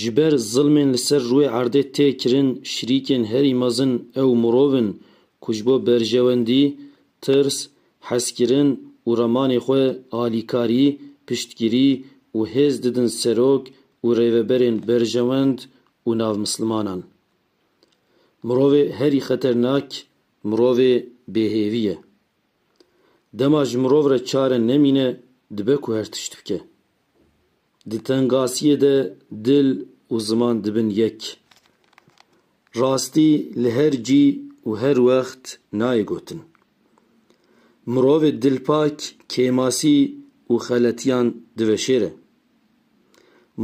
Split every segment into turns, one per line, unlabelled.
Ji ber zilmên li ser rûyê erdê tê kirin şirîkên herî mezin ew mirov in ku ji bo berjewendî, tirs, hezkirin û remanê xwe alîkarî, piştgirî û hêz didin serok û rêveberên berjewend û navmislimanan. Mirovê herî xeternak mirovê bêhêvî ye. Dema ji mirov re çare nemîne dibe ku her tişt bike. Di tengasiyê de dil û ziman dibin yek. Rastî li her cî û her wext nayê gotin. Mirovê dilpak kêmasî û xeletiyan diveşêre.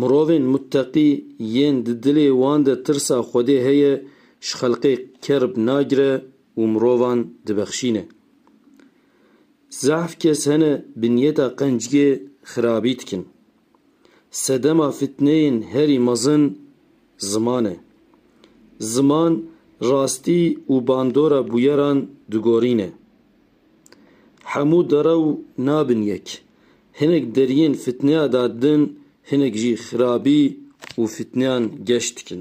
Mirovên mutteqî yên di dilê wan de tirsa Xwedê heye ji xelqê kerb nagire û mirovan dibexşîne. Zehf kes hene binyeta qencgê xirabî dikin. Sedema fitneyên herî mezin ziman e. Ziman rastî û bandora bûyeran digorîne. Hemû derew nabin yek. Hinek deriyên fitneya da din hinek jî xirabî û fitneyan geş dikin.